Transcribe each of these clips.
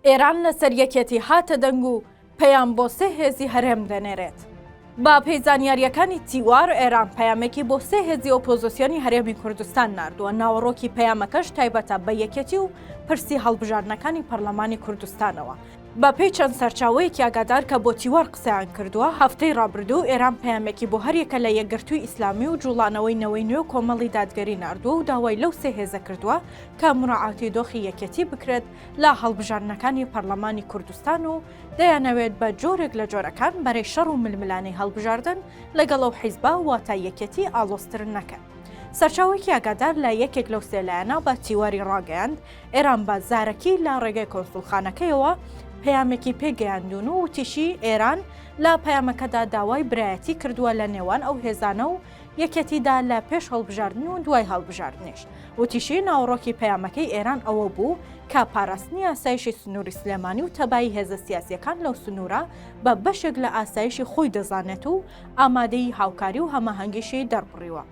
ئێران لەسەر یەکێتی هاتە دەنگ و پەیام بۆ سێ هێزی هەرێم دەنێرێت. بە پێی زانیارییەکانی تیوار، ئێران پەیامێکی بۆ سێ هێزی ئۆپۆزسیۆنی هەرێمی کوردستان ناردووە، ناوەڕۆکی پەیامەکەش تایبەتە بە یەکێتی و پرسی هەڵبژاردنەکانی پەرلەمانی کوردستانەوە. بە پێی چەند سەرچاوەیەکی ئاگادار کە بۆ تیوار قسەیان کردووە، هەفتەی رابردوو ئێران پەیامێکی بۆ هەریەکە لە یەکگرتووی ئیسلامی و جووڵانەوەی نەوەی نوێ و کۆمەڵی دادگەری ناردووە و داوای لەو سێ هێزە کردووە کە موراعاتی دۆخی یەکێتی بکرێت لە هەڵبژاردنەکانی پەرلەمانی کوردستان و دەیانەوێت بە جۆرێک لە جۆرەکان بەرەی شەڕ و ململانێی هەڵبژاردن لەگەڵ ئەو حیزبە واتە یەکێتی ئاڵۆزتر نەکەن. سەرچاوەیەکی ئاگادار لە یەکێک لەو سێ لایەنە بە تیواری ڕاگەیاند، ئێران بە زارەکی لە ڕێگەی کۆنسوڵخانەکەیەوە پەیامێکی پێگەیاندوون و وتیشی، ئێران لە پەیامەکەدا داوای برایەتی کردووە لە نێوان ئەو هێزانە و یەکێتیدا لە پێش هەڵبژاردن و دوای هەڵبژاردنیش، وتیشی، ناوەڕۆکی پەیامەکەی ئێران ئەوە بوو کە پاراستنی ئاسایشی سنووری سلێمانی و تەبایی هێزە سیاسییەکان لەو سنوورە بە بەشێک لە ئاسایشی خۆی دەزانێت و ئامادەیی هاوکاری و هەماهەنگیشی دەربڕیوە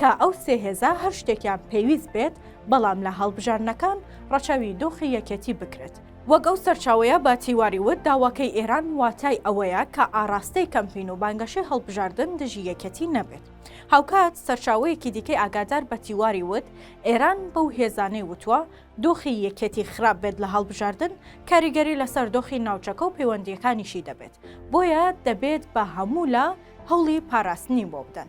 کە ئەو سێ هێزە هەر شتێکیان پێویست بێت، بەڵام لە هەڵبژاردنەکان ڕەچاوی دۆخی یەکێتی بکرێت. وەک ئەو سەرچاوەیە بە تیواری وت، داواکەی ئێران واتای ئەوەیە کە ئاڕاستەی کەمپین و بانگەشەی هەڵبژاردن دژی یەکێتی نەبێت. هاوکات سەرچاوەیەکی دیکەی ئاگادار بە تیواری وت، ئێران بەو هێزانەی وتووە دۆخی یەکێتی خراپ بێت لە هەڵبژاردن، کاریگەری لەسەر دۆخی ناوچەکە و پەیوەندییەکانیشی دەبێت، بۆیە دەبێت بە هەموو لا هەوڵی پاراستنی بۆ بدەن.